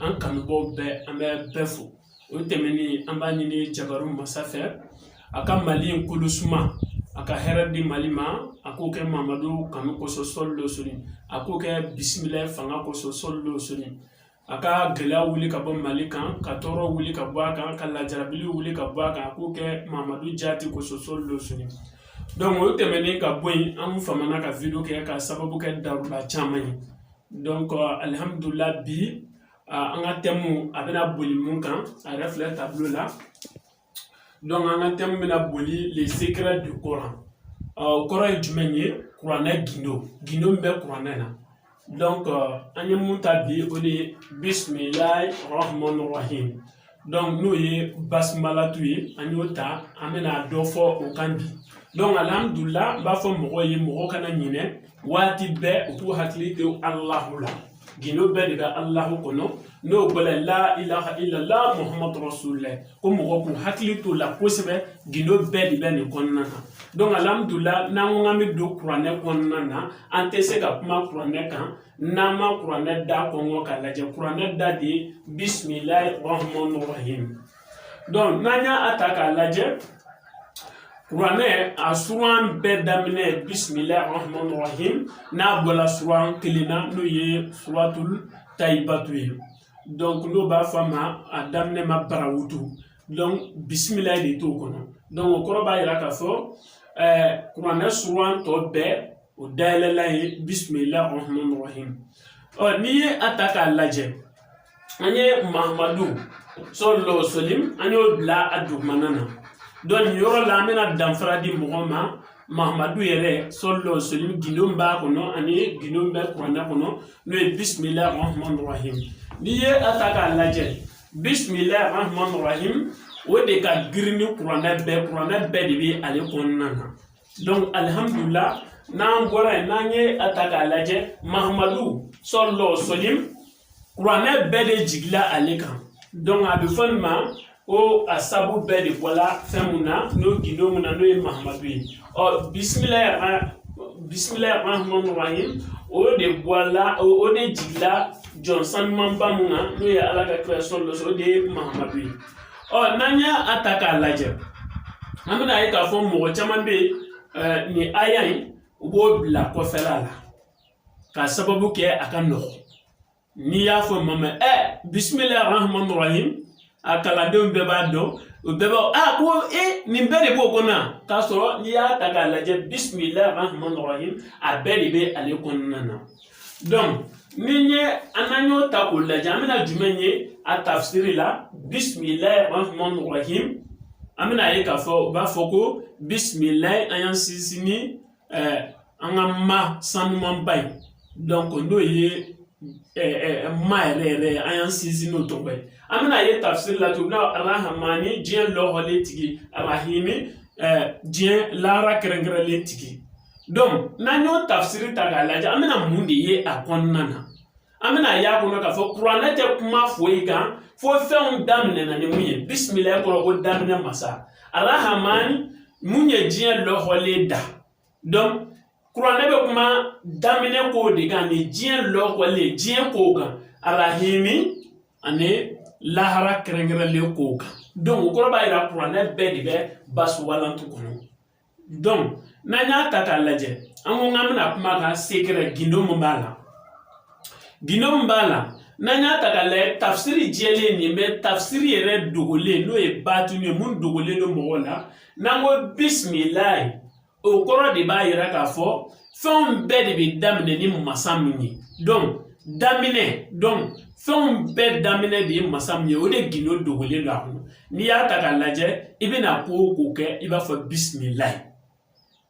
an kanubaaw bɛɛ an bɛ bɛɛ fo o tɛmɛnen an b'a ɲini jabaru masa fɛ a ka mali in kolo suma a ka hɛrɛ di mali ma a k'o kɛ mamadu kanu kosɔn sɔlɔ sɔlim a k'o kɛ bisimila fanga kosɔn sɔlɔ sɔlim a ka gɛlɛya wuli ka bɔ mali kan ka tɔɔrɔ wuli ka bɔ a kan ka lajarabili wuli ka bɔ a kan a k'o kɛ mamadu jati kosɔn sɔlɔ sɔlim donc o tɛmɛnen ka bɔ yen an famana ka wideyo kɛ k'a sababu kɛ daliluya caman ye alihamudulila bi an ka thème a bɛna boli mun kan a yɛrɛ filɛ tableau la donc an ka thème bɛna boli les secrets du Coran o kɔrɔ ye jumɛn ye kuranɛ gindo gindo min bɛ kuranɛ na donc an ye mun ta bi o de ye bisimilayi rahmani rahim donc n'o ye basimalatu ye an y'o ta an bɛna dɔ fɔ o kan bi donc alihamudulila n b'a fɔ mɔgɔw ye mɔgɔw kana ɲinɛ waati bɛɛ u k'u hakili to alahu la gindo bɛɛ de bɛ alahu kɔnɔ n'o bɔla la ilaha ilala muhamadu rasulila ko mɔgɔ k'u hakili t'o la kosɛbɛ gindo bɛɛ de bɛ nin kɔnɔna na donc alihamudulila n'an ko k'an bɛ don kuranɛ kɔnɔna na an tɛ se ka kuma kuranɛ kan n'an ma kuranɛ da kɔnkɔn k'a lajɛ kuranɛ da de bisimilayi rahman rahim donc n'an y'a ta k'a lajɛ kuranɛ a suran bɛɛ daminɛ bisimilayi rahman rahim n'a bɔla suran kelen na n'o ye suratul tawubatu ye donc n'o b'a fɔ a ma a daminɛ ma barawutu donc bisimilayi de t'o kɔnɔ donc o kɔrɔ b'a yira k'a fɔ ɛɛ kuranɛ suran tɔ bɛɛ o dayɛlɛlan ye bisimila rahman rahim ɔ n'i ye a ta k'a lajɛ an ye mahamadu sɔlɔ sɔlim an y'o bila a dugumana na donc nin yɔrɔ la an bɛna danfara di mɔgɔ ma mahamadu yɛrɛ sɔlɔ sɔlim gindo b'a kɔnɔ ani gindo bɛ kuranɛ kɔnɔ n'o ye bisimila rahman rahim n'i ye a ta k'a lajɛ bisimila rahman rahim o de ka girin ni kuranɛ bɛɛ kuranɛ bɛɛ de bɛ ale kɔnɔna na donc alihamudulila n'an bɔra yen n'an ye a ta k'a lajɛ mahamadu sɔlɔ sɔlim kuranɛ bɛɛ de jigila ale kan donc a bɛ fɔ nin ma ko a sabu bɛɛ de bɔla fɛn mun na n'o gindo mun na n'o ye mahamadu ye ɔ bisimila bisimila rahman rahim o de bɔla o de jigila jɔn sanumanba mun na n'o ye ala ka kira sɔlɔ o de ye mahamadu ye ɔ n'an y'a ta k'a lajɛ an bɛna a ye k'a fɔ mɔgɔ caman bɛ yen nin aya in u b'o bila kɔfɛla la k'a sababu kɛ a ka nɔgɔn n'i y'a fɔ maa ma ɛ bisimila rahman rahim a kalandenw bɛɛ b'a dɔn o bɛɛ b'a a ko e nin bɛɛ de b'o kɔnɔ k'a sɔrɔ n'i y'a ta k'a lajɛ bisimila rahman rahim a bɛɛ de bɛ ale kɔnɔna na ni n ye an n'an y'o ta k'o lajɛ an bɛna jumɛn ye a tafisiri la bisimila rahman rahim an bɛna a ye k'a fɔ u b'a fɔ ko bisimila an y'an sinsin ni an ka ma sanumanba ye n'o ye ma yɛrɛ yɛrɛ an y'an sinsin n'o tɔgɔ ye an bɛna a ye tafisiri la tuguni arahamani diɲɛ lɔgɔlen tigi arahimi diɲɛ lahara kɛrɛnkɛrɛnlen tigi n'an y'o tafsiri ta k'a lajɛ an bɛna mun de ye a kɔnɔna na an bɛna a y'a kɔnɔ k'a fɔ kuranɛ tɛ kuma foyi kan fo fɛnw daminɛna ni mun ye bisimilayi kɔrɔ ko daminɛ masa arahamani mun ye diɲɛ lɔgɔlen da kuranɛ bɛ kuma daminɛ kow de kan ani diɲɛ lɔgɔlen diɲɛ kow kan arahimi ani lahara kɛrɛnkɛrɛnlen kow kan o kɔrɔ b'a yira kuranɛ bɛɛ de bɛ basumalatu kɔnɔ n'an y'a ta k'a lajɛ an ko k'an bɛna kuma kan sekɛrɛ gindo mun b'a la gindo mun b'a la n'an y'a ta k'a lajɛ tafsiri jɛlen nin bɛ tafsiri yɛrɛ dogolen n'o ye batini ye mun dogolen don mɔgɔw la n'an ko bisimilayi o kɔrɔ de b'a yira k'a fɔ fɛnw bɛɛ de bɛ daminɛ ni masa min ye dɔn daminɛ dɔn fɛnw bɛɛ daminɛ de ye masa min ye o de gindo dogolen don a kɔnɔ n'i y'a ta k'a lajɛ i bɛna ko o ko kɛ i b'a fɔ bisimilayi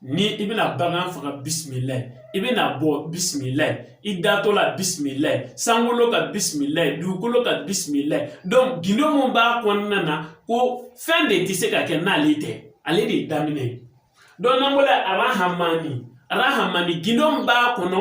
ni i bɛna bagan faga bisimilayi i bɛna bɔ bisimilayi i datɔ la bisimilayi sankolo ka bisimilayi dugukolo ka bisimilayi dɔn gindo min b'a kɔnɔna na ko fɛn de tɛ se ka kɛ n'ale tɛ ale de ye daminɛ ye dɔn n'an bɔra arahamani arahamani gindo mun b'a kɔnɔ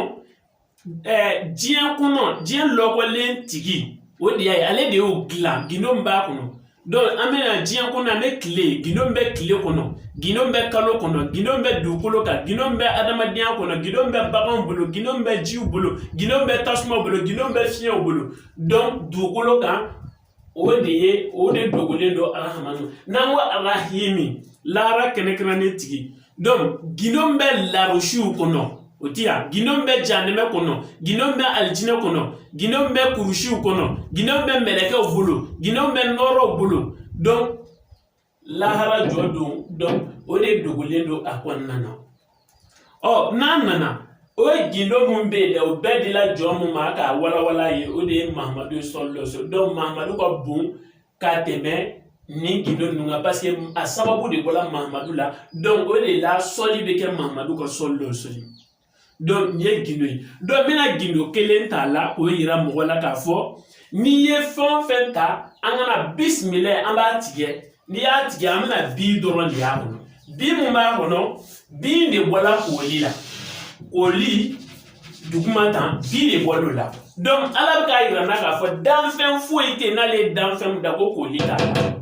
ɛɛ diɲɛ kɔnɔ diɲɛ lɔgɔlen tigi o de y'a ye ale de y'o dilan gindo mun b'a kɔnɔ dɔn an bɛna diɲɛ kɔnɔ an bɛ tile gindo mun bɛ tile kɔnɔ gindo mun bɛ kalo kɔnɔ gindo mun bɛ dugukolo kan gindo mun bɛ adamadenya kɔnɔ gindo mun bɛ baganw bolo gindo mun bɛ jiw bolo gindo mun bɛ tasuma bolo gindo mun bɛ fiɲɛw bolo dɔn dugukolo kan o de ye o de dogolen don arahamani n'an ko arahimi lahara kɛrɛnkɛrɛnlen tigi gindo mun bɛ larusiw kɔnɔ o tɛ yan gindo mun bɛ janɛmɛ kɔnɔ gindo mun bɛ alijinɛ kɔnɔ gindo mun bɛ kurusiw kɔnɔ gindo mun bɛ mɛlɛkɛw bolo gindo mun bɛ nɔrɔw bolo lahara jɔ don dɔn o de dogolen don a kɔnɔna na ɔ n'an nana o ye gindo mun bɛ yen dɛ o bɛɛ dila jɔn mun ma k'a walawala ye o de ye mahamadu sɔlɔsɔ dɔn mahamadu ka bon ka tɛmɛ nin gindo ninnu kan paseke a sababu de bɔra mahamadu la dɔn o de la sɔli bɛ kɛ mahamadu kan sɔli dɔ sɔli donc nin ye gindo ye donc n bɛna gindo kelen t'a la k'o yira mɔgɔ la k'a fɔ n'i ye fɛn o fɛn ta an kana bisimila an b'a tigɛ n'i y'a tigɛ an bɛna bi dɔrɔn de y'a kɔnɔ bi min b'a kɔnɔ bi de bɔla kooli la kooli duguma tan bi de bɔl'o la donc ala bɛ k'a yira an na k'a fɔ danfɛn foyi tɛ yen n'ale ye danfɛn da ko kooli t'a la.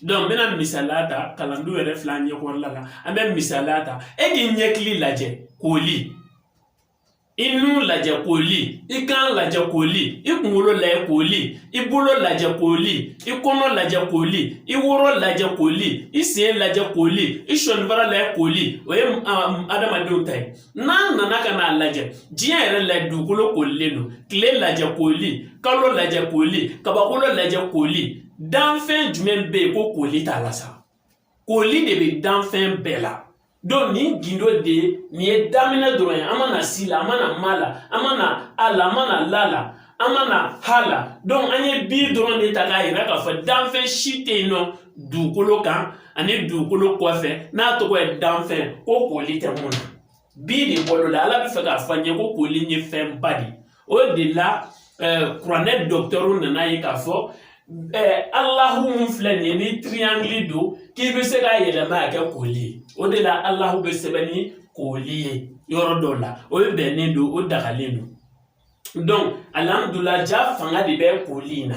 n bɛna misaliya ta kalandenw yɛrɛ fila ɲɛkɔrɔla la an bɛ misaliya ta e k'i ɲɛkili lajɛ koli i nun lajɛ koli i kan lajɛ koli i kunkolo lajɛ koli i bolo lajɛ koli i kɔnɔ lajɛ koli i woro lajɛ koli i sen lajɛ koli i sɔnibara lajɛ koli o ye adamadenw ta ye n'an nana ka n'a lajɛ diɲɛ yɛrɛ la dugukolo kolilen don tile lajɛ koli kalo lajɛ koli kabakolo lajɛ koli danfɛn jumɛn bɛ yen ko koli t'a la sa koli de bɛ danfɛn bɛɛ la donc nin gindo de ye nin ye daminɛ dɔrɔn ye an ma na si la an ma na ma la an ma na a la an ma na la la an ma na ha la donc an ye bi dɔrɔn de ta k'a yira k'a fɔ danfɛn si tɛ yen nɔ dugukolo kan ani dugukolo kɔfɛ n'a tɔgɔ ye danfɛn ko koli tɛ min na bi de bɔl'o la ala bɛ fɛ k'a fɔ an ye ko koli ye fɛnba de ye o de la kuranɛ dɔgɔtɔrɔw nana ye k'a fɔ alahu min filɛ nin ye ni triangle don k'i bɛ se k'a yɛlɛma k'a kɛ koli ye o de la alahu bɛ sɛbɛn ni koli ye yɔrɔ dɔw la o bɛɛ bɛnnen don o dagalen don donc alihamudulila jaa fanga de bɛ koli in na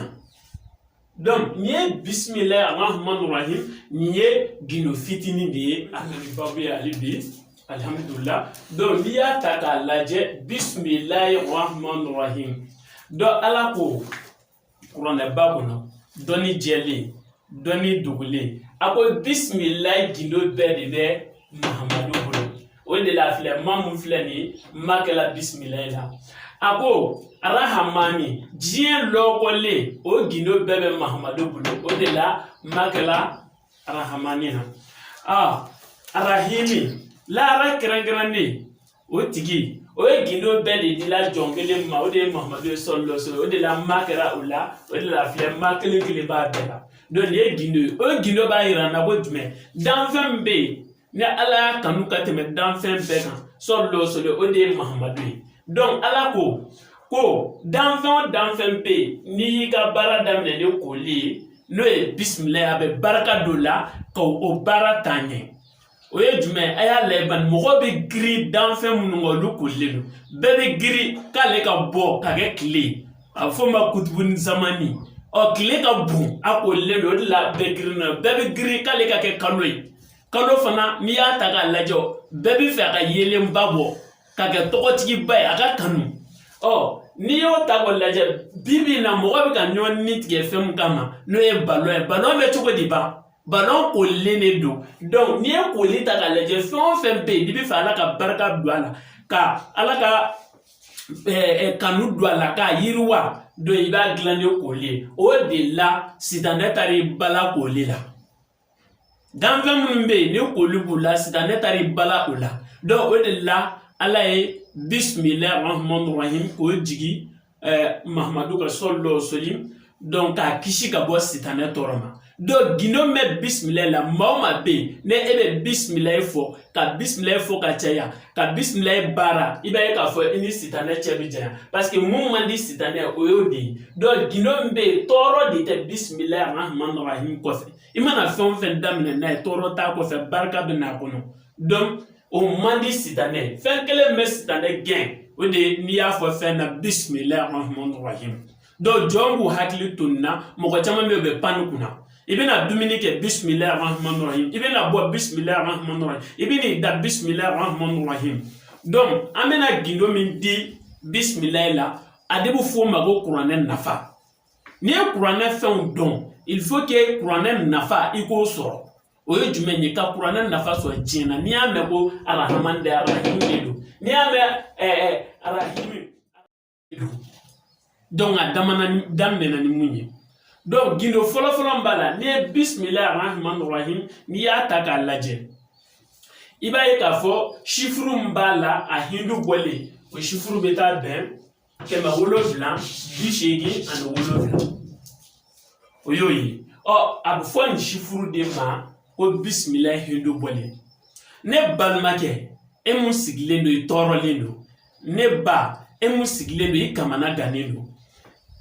donc nin ye bisimilayi arahmani rahim nin ye gindo fitinin de ye a nana babu ye ale bi alihamudulila donc n'i y'a ta k'a lajɛ bisimilayi arahmani rahim donc ala ko kuranɛba kɔnɔ dɔnni jɛlen dɔnni dogolen a ko bisimilayi gindo bɛɛ de bɛ mahamadu bolo o de la filɛ ma min filɛ nin ye ma kɛla bisimila la a ko arahamani diɲɛ lɔkɔlen o gindo bɛɛ bɛ mahamadu bolo o de la ma kɛla arahamani na a arahimi laara kɛrɛnkɛrɛnnen o tigi o ye gindo bɛɛ de dila jɔn kelen ma o de ye mahamadu ye salalahu alayihi wa salam o de la ma kɛra o la o de la filɛ ma kelen kelen b'a bɛɛ la donc nin ye gindo ye o gindo b'a yira an na ko jumɛn danfɛn min bɛ yen ni ala y'a kanu ka tɛmɛ danfɛn bɛɛ kan salalahu alayihi wa salam o de ye mahamadu ye donc ala ko ko danfɛn o danfɛn bɛ yen n'i y'i ka baara daminɛ ni koli ye n'o ye bisimila ye a bɛ barika don o la ka o baara taa ɲɛ o ye jumɛn ye a y'a lajɛ bani mɔgɔ bɛ girin danfɛn minnu kan olu kolilen don bɛɛ bɛ girin k'ale ka bɔ ka kɛ tile ye a bɛ f'o ma kutubuni zamani ɔ tile ka bon a kolilen don o de la bɛɛ girin na bɛɛ bɛ girin k'ale ka kɛ kalo ye kalo fana n'i y'a ta k'a lajɛ bɛɛ b'a fɛ a ka yeelenba bɔ ka kɛ tɔgɔtigiba ye a ka kanu ɔ n'i y'o ta k'o lajɛ bi bi in na mɔgɔ bɛ ka ɲɔgɔn ni tigɛ fɛn min kama n'o ye balon ye balon bɛ cogo di ban balon kolilen de don donc n'i ye koli ta k'a lajɛ fɛn o fɛn bɛ yen n'i b'a fɛ ala ka barika don a la ka ala ka kanu don a la k'a yiriwa donc i b'a dilan ni koli ye o de la sitanɛ taara i bala koli la danfɛn minnu bɛ yen ni koli b'u la sitanɛ taara i bala o la donc o de la ala ye bisimilahi rahmani rahim k'o jigin eh, mahamadu kan salalahu wasalam donc k'a kisi ka bɔ sitanɛ tɔɔrɔ ma donc gindo bɛ bisimilayi la maa o maa bɛ yen ni e bɛ bisimilayi fɔ ka bisimilayi fɔ ka caya ka bisimilayi baara i b'a ye k'a fɔ i ni sitanɛ cɛ bɛ janya parce que min man di sitanɛ ye o y'o de ye donc gindo min bɛ yen tɔɔrɔ de tɛ bisimilayi arahamani rahim kɔfɛ i mana fɛn o fɛn daminɛ n'a ye tɔɔrɔ t'a kɔfɛ barika bɛ n'a kɔnɔ donc o man di sitanɛ fɛn kelen min bɛ sitanɛ gɛn o de ye n'i y'a fɔ fɛn na bisimila rahman rahim donc jɔn b'u hakili to nin na mɔgɔ caman bɛ yen u bɛ pan kunna i bɛna dumuni kɛ bisimila rahman rahim i bɛna bɔ bisimila rahman rahim i bɛna i da bisimila rahman rahim donc an bɛna gindo min di bisimila la a de bɛ fɔ o ma ko kuranɛ nafa n'i ye kuranɛ fɛnw dɔn il faut que kuranɛ nafa i k'o sɔrɔ o ye jumɛn ye ka kuranɛ nafa sɔrɔ diɲɛ na n'i y'a mɛn ko arahamani de arahimi de don n'i y'a mɛn ɛɛ arahimi donc a damana daminɛna ni mun ye donc gindo fɔlɔfɔlɔ min b'a la n'i ye bisimila arahimani rahim n'i y'a ta k'a lajɛ i b'a ye k'a fɔ sifuru min b'a la a hindu bɔlen o sifuru bɛ taa bɛn kɛmɛ wolonfila bi seegin ani wolonfila o y'o ye ɔ a bɛ fɔ nin sifuru de ma ko bisimila hindu bɔlen ne balimakɛ e min sigilen don i tɔɔrɔlen don ne ba e min sigilen don i kamana gannen don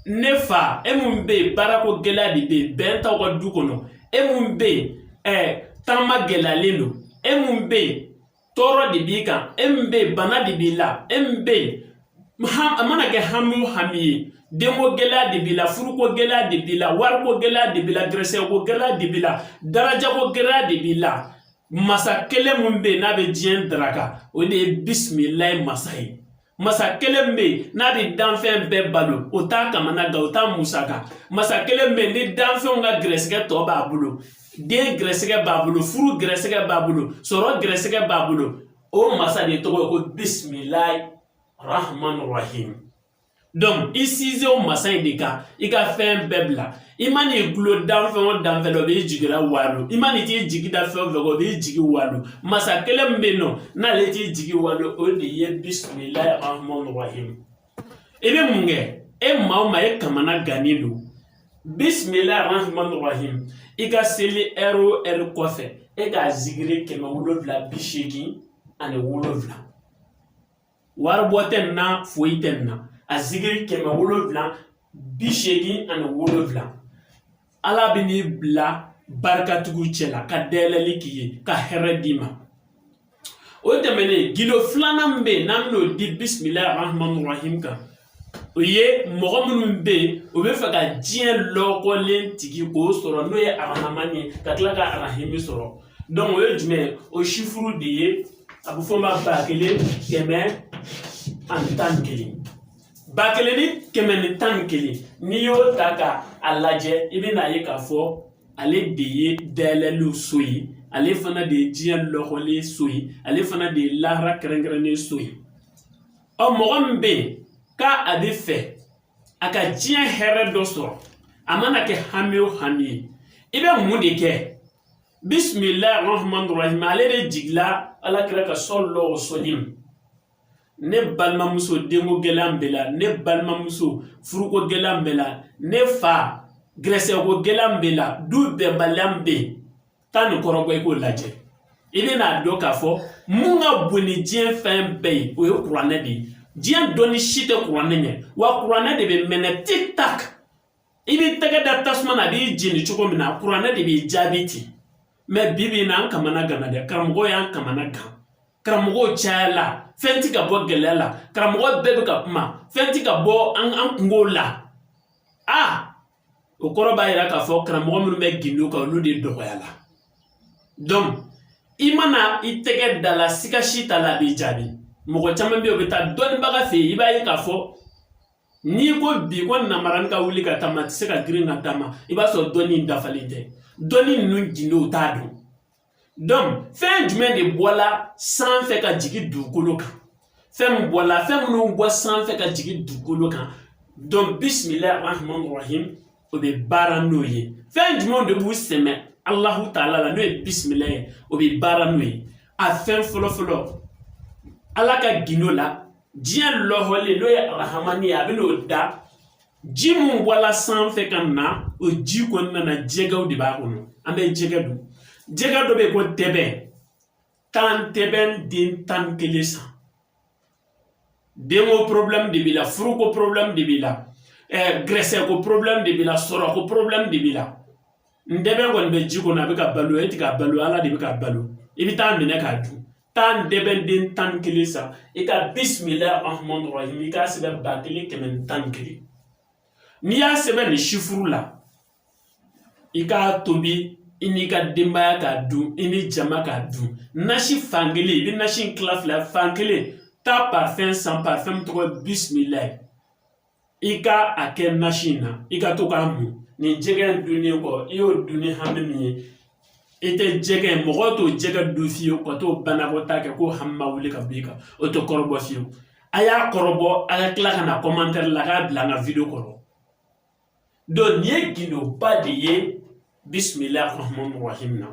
ne fa e min bɛ yen baarako gɛlɛya de bɛ yen bɛn t'aw ka du kɔnɔ e min bɛ yen ɛɛ taama gɛlɛyalen don e min bɛ yen tɔɔrɔ de b'i kan e min bɛ yen bana de b'i la e min bɛ yen a mana kɛ hami o hami ye denko gɛlɛya de b'i la furuko gɛlɛya de b'i la wariko gɛlɛya de b'i la gɛrɛsɛgɛko gɛlɛya de b'i la darajako gɛlɛya de b'i la masa kelen min bɛ yen n'a bɛ diɲɛ daraka o de ye bisimilayi masa ye masa kelen bɛ yen n'a bɛ danfɛn bɛɛ balo o t'a kamana gan o t'a musaka masa kelen bɛ yen ni danfɛnw ka gɛrɛsɛgɛ tɔ b'a bolo den gɛrɛsɛgɛ b'a bolo furu gɛrɛsɛgɛ b'a bolo sɔrɔ gɛrɛsɛgɛ b'a bolo o masa de tɔgɔ ye ko bisimilayi rahman rahim i sinsin o masa in de kan i ka fɛn bɛɛ bila i man'i dulon danfɛn o danfɛn na o b'i jigi la walo i man'i t'i jigi da fɛn o fɛn o b'i jigi walo masa kelen min bɛ yen nɔ n'ale t'i jigi walo o de ye bisimilayi rahmani rahim i bɛ mun kɛ e maa o maa e kamana gannen don bisimilayi rahmani rahim i ka seli ɛri o ɛri kɔfɛ e k'a zikiri kɛmɛ wolonwula bi seegin ani wolonwula wari bɔ tɛ nin na foyi tɛ nin na a zikiri kɛmɛ wolonwula bi seegin ani wolonwula ala bɛn'i bila barikatigiw cɛ la ka dayɛlɛli k'i ye ka hɛrɛ d'i ma o tɛmɛnen gindo filanan min bɛ yen n'an bɛn'o di bisimilahi rahmani rahim kan o ye mɔgɔ minnu bɛ yen o b'a fɛ ka diɲɛ lɔkɔlen tigi k'o sɔrɔ n'o ye arahaman ye ka tila ka arahimi sɔrɔ o ye jumɛn ye o sifuru de ye a bɛ fɔ o ma ba kelen kɛmɛ ani tan ni kelen ba kelen ni kɛmɛ ni tan ni kelen n'i y'o ta ka a lajɛ i bɛn'a ye k'a fɔ ale de ye dayɛlɛliw so ye ale fana de ye diɲɛ lɔkɔlen so ye ale fana de ye lahara kɛrɛnkɛrɛnnen so ye ɔ mɔgɔ min bɛ yen k'a a b'a fɛ a ka diɲɛ hɛrɛ dɔ sɔrɔ a mana kɛ hami o hami ye i bɛ mun de kɛ bisimilahi rahman rahim ale de jigila ala kira kan salalahu wasalam ne balimamuso denko gɛlɛya b'e la ne balimamuso furuko gɛlɛya b'e la ne fa gɛrɛsɛgɛko gɛlɛya b'e la du bɛnbaliya bɛ yen taa nin kɔrɔbɔ i k'o lajɛ i bɛna dɔn k'a fɔ mun ka bon ni diɲɛ fɛn bɛɛ ye o ye kuranɛ de ye diɲɛ dɔnni si tɛ kuranɛ ɲɛ wa kuranɛ de bɛ mɛnɛ tik tak i b'i tɛgɛ da tasuma na a b'i jeni cogo min na kuranɛ de b'i jaabi ten mɛ bi bi in na an kamana gana dɛ karamɔgɔw y'an kamana gan karamɔgɔw cayala fɛn ti ka bɔ gɛlɛya la karamɔgɔ bɛɛ bɛ ka kuma fɛn ti ka bɔ an an kungow la a ah! o kɔrɔ b'a yira k'a fɔ karamɔgɔ minnu bɛ gindo kan olu de dɔgɔyala i mana i tɛgɛ d'a la siga si t'a la a b'i jaabi mɔgɔ caman bɛ yen o bɛ taa dɔnnibaga fɛ yen i b'a ye k'a fɔ n'i ko bi ko namarani ka wuli ka taama a tɛ se ka girin ka taama i b'a sɔrɔ dɔnni dafalen tɛ dɔnni ninnu gindow t'a dɔn fɛn jumɛn de bɔla sanfɛ ka jigin dugukolo kan fɛn min bɔla fɛn minnu bɔ sanfɛ ka jigin dugukolo kan donc bisimila rahman rahim o bɛ baara n'o ye fɛn jumɛn de b'u sɛmɛ alahu taala la n'o ye bisimila ye o bɛ baara n'o ye a fɛn fɔlɔ fɔlɔ ala ka gindo la diɲɛ lɔhɔlen n'o ye arahamani ye a bɛ n'o da ji mun bɔla sanfɛ ka na o ji kɔni nana jɛgɛw de b'a kɔnɔ an bɛ jɛgɛ dun jɛgɛ dɔ bɛ yen ko ntɛbɛn taa ntɛbɛn den tan ni kelen san denko porobilɛmu de b'i la furuko porobilɛmu de b'i la ɛɛ gɛrɛsɛgɛko porobilɛmu de b'i la sɔrɔko porobilɛmu de b'i la ntɛbɛn kɔni bɛ ji kɔnɔ a bɛ ka balo e tɛ k'a balo ala de bɛ k'a balo i bɛ taa a minɛ k'a dun taa ntɛbɛn den tan ni kelen san i ka bisimila rahman rahim i k'a sɛbɛn ba kelen kɛmɛ ni tan ni kelen n'i y'a sɛbɛn nin sifuru la i k'a tobi i n'i ka denbaya k'a dun i ni jama k'a dun nasi fan kelen i bɛ nasi in tila fila fan kelen taa parfɛn san parfɛn min tɔgɔ ye bisimilayi i ka a kɛ nasi in na i ka to k'a mun nin jɛgɛ in dunni kɔ i y'o dun ni hami min ye i tɛ jɛgɛ mɔgɔ t'o jɛgɛ dun fiyewu ka t'o banakɔtaa kɛ ko hami ma wuli ka b'i kan o tɛ kɔrɔbɔ fiyewu a y'a kɔrɔbɔ a ka tila ka na kɔmantɛri la k'a bila an ka video kɔrɔ donc nin ye gindoba de ye bisimila rahman rahim na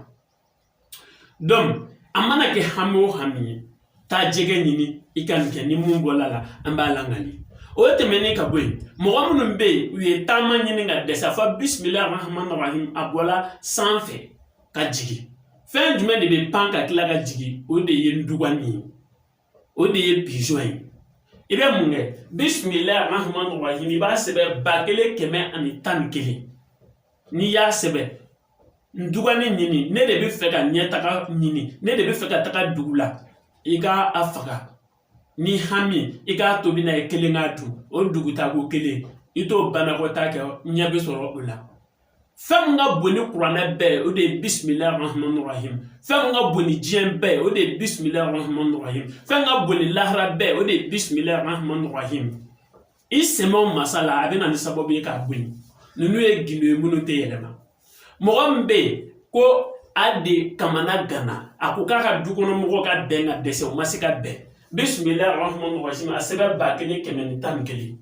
dɔnku a mana kɛ hami o hami ye taa jɛgɛ ɲini i ka nin kɛ ni mun bɔla a la an b'a lakali o tɛmɛnen ka bɔ yen mɔgɔ minnu bɛ yen u ye taama ɲini ka dɛsɛ fɔ bisimila rahman rahim a bɔla sanfɛ ka jigin fɛn jumɛn de bɛ pan ka tila ka jigin o de ye ndugani ye o de ye pizɔn ye i bɛ mun kɛ bisimilayi rahman rahim i b'a sɛbɛn ba kelen kɛmɛ ani tan ni kelen n'i y'a sɛbɛn ndugani ɲini ne de b'a fɛ ka ɲɛtaga ɲini ne de b'a fɛ ka taga dugu la i ka a faga ni hami i k'a tobi n'a ye i kelen k'a dun o dugutaako kelen i t'o banakɔtaa kɛ ɲɛ bɛ sɔrɔ o la fɛn min ka bon ni kuranɛ bɛɛ ye o de ye bisimilahi rahmani rahim fɛn min ka bon ni diɲɛ bɛɛ ye o de ye bisimilahi rahmani rahim fɛn ka bon ni lahara bɛɛ ye o de ye bisimilahi rahmani rahim i sɛmɛ masa la a bɛ na ni sababu ye k'a bonya ninnu ye gindo ye minnu tɛ yɛlɛma mɔgɔ min bɛ yen ko a de kamana ganna a ko k'a ka dukɔnɔmɔgɔw ka bɛn ka dɛsɛ u ma se ka bɛn bisimilahi rahmani rahim a sɛbɛn ba kelen kɛmɛ ni tan ni kelen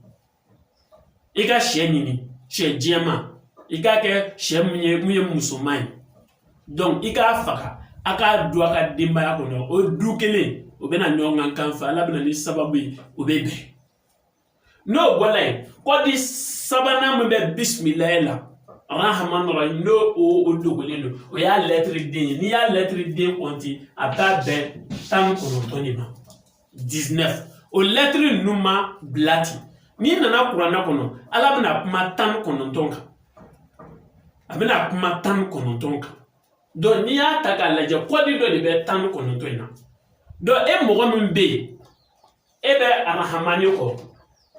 i ka sɛ ɲini sɛ jɛma i k'a kɛ sɛ mun ye mun ye musoman ye i k'a faga a k'a dun a ka denbaya kɔnɔ o du kelen o bɛna ɲɔgɔn kan fɛ ala bɛna ni sababu ye o bɛ bɛn n'o bɔla yen kɔdi sabanan min bɛ bisimila la rahama nɔrɔ n'o o o dogolen don o y'a lɛtiri den ye n'i y'a lɛtiri den kɔnti a b'a bɛn tan ni kɔnɔntɔn de ma 19 o lɛtiri ninnu ma bila ten n'i nana kuranɛ kɔnɔ ala bɛna kuma tan ni kɔnɔntɔn kan a bɛna kuma tan ni kɔnɔntɔn kan dɔn n'i y'a ta k'a lajɛ kɔdi dɔ de bɛ tan ni kɔnɔntɔn in na dɔn e mɔgɔ min bɛ yen e bɛ arahamani kɔ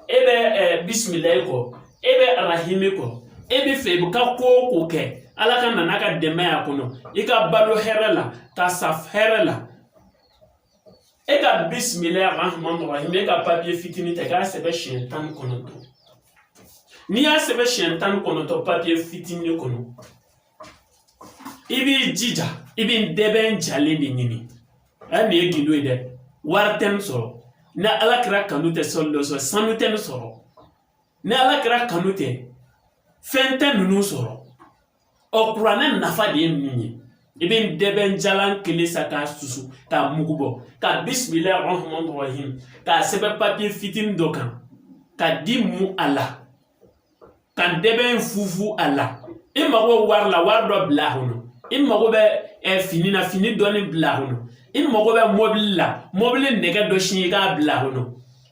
e bɛ eh, bisimilayi kɔ e bɛ arahimi kɔ e bɛ fɛ i bɛ ka ko o ko kɛ ala ka na n'a ka dɛmɛ y'a kɔnɔ i ka balo hɛrɛ la ka sa hɛrɛ la e ka bisimila rahman rahim e ka papiye fitinin ta k'a sɛbɛn siɲɛ tan ni kɔnɔntɔn n'i y'a sɛbɛn siɲɛ tan ni kɔnɔntɔn papiye fitinin kɔnɔ i b'i jija i bɛ dɛbɛn jalen de ɲini a nin ye gundo ye dɛ wari tɛ nin sɔrɔ ni ala kira kanu tɛ sɔli dɔ sɔrɔ sanu tɛ nin sɔrɔ ni ala kira kanu tɛ fɛn tɛ ninnu sɔrɔ ɔ kuranɛ nafa de ye nin ye i bɛ dɛbɛn jalan kelen san k'a susu k'a mugu bɔ ka bisimila rahman rahim k'a sɛbɛn papiye fitinin dɔ kan ka di mu a la ka dɛbɛn fufu a la i mago bɛ wari la wari dɔ bila a kɔnɔ i mago bɛ eh, fini na fini dɔɔni bila a kɔnɔ i mago bɛ mɔbili la mɔbili nɛgɛ dɔ siɲɛ i k'a bila a kɔnɔ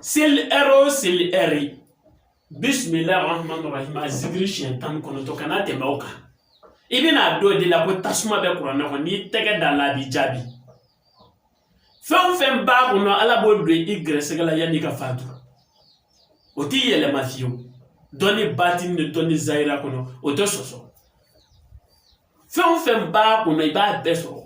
seli ɛri o seli ɛri bisimilahi rahman rahim a zikiri siɲɛ tan ni kɔnɔntɔn kana tɛmɛ o kan i bɛna a dɔn de la ko tasuma bɛ kuranɛ kɔnɔ n'i tɛgɛ da la a b'i jaabi fɛn o fɛn b'a kɔnɔ ala b'o don i gɛrɛsɛgɛ la yanni i ka fatu o tɛ yɛlɛma fiyewu dɔnni batini ni dɔnni zayira kɔnɔ o tɛ sɔsɔ fɛn o fɛn b'a kɔnɔ i b'a bɛɛ sɔrɔ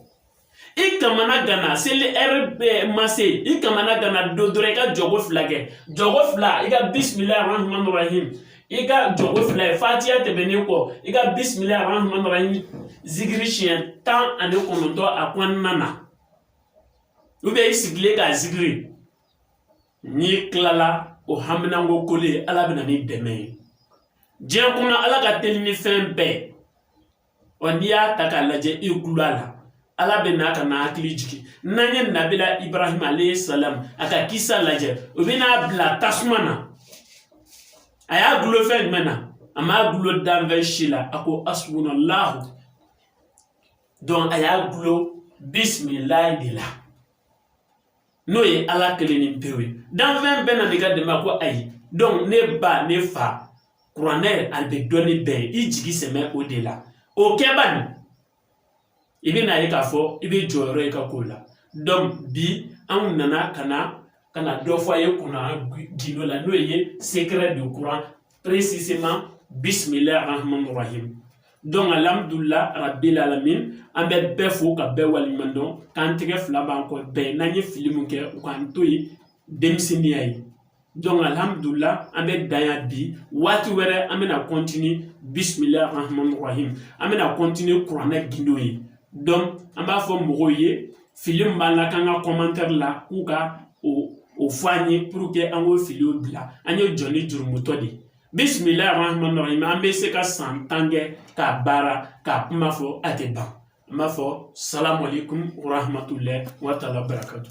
i kamana gana seli ɛri ma se i kamana gana don dɔrɔn i ka jɔko fila kɛ jɔko fila i ka bisimila rahman rahim i ka jɔko fila ye fatiya tɛmɛnen kɔ i ka bisimila rahman rahim zikiri siɲɛ tan ani kɔnɔntɔn a kɔnɔna na ubiyɛn i sigilen k'a zikiri n'i tilala o haminanko koli ye ala bɛna ni dɛmɛ ye diɲɛ kɔnɔ ala ka teli ni fɛn bɛɛ ɔ n'i y'a ta k'a lajɛ i gulo a la ala bɛ n'a ka na hakili jigin n'an ye nabila ibrahima alayhi salamu a ka kisa lajɛ u bɛn'a bila tasuma na a y'a gulo fɛn jumɛn na a m'a gulo danfɛn si la a ko asubuna lahu dɔn a y'a gulo bisimilayi de la n'o ye ala kelennin pewu ye danfɛn bɛɛ na n'i ka dɛmɛ ko ayi donc ne ba ne fa kuranɛ a bɛ dɔnni bɛɛ ye i jigi sɛmɛ o de la o kɛ baa ni i bɛna a ye k'a fɔ i bɛ jɔyɔrɔ ye ka k'o la donc bi anw nana ka na ka na dɔ fɔ a ye kuranɛ gindo la n'o ye secret de coran précisément bismillah rahman rahim donc alhamdulila rabbil alamin an bɛ bɛɛ fo ka bɛɛ waleɲuman dɔn k'an tɛgɛ fila b'an kɔ bɛɛ n'an ye fili min kɛ u k'an to yen denmisɛnninya ye donc alhamdulila an bɛ dan yan bi waati wɛrɛ an bɛna continuer bisimilahi rahmani rahim an bɛna continuer kuranɛ gindo ye donc an b'a fɔ mɔgɔw ye fili min b'a la k'an ka commentaire la k'u ka o o fɔ an ye pour que an k'o filiw bila an ye jɔnnin jurumutɔ de ye bisimila rahman rahim an bɛ se ka san tan kɛ k'a baara k'a kuma fɔ a tɛ ban n b'a fɔ salamalekun rahmatulahi wa taala barakatu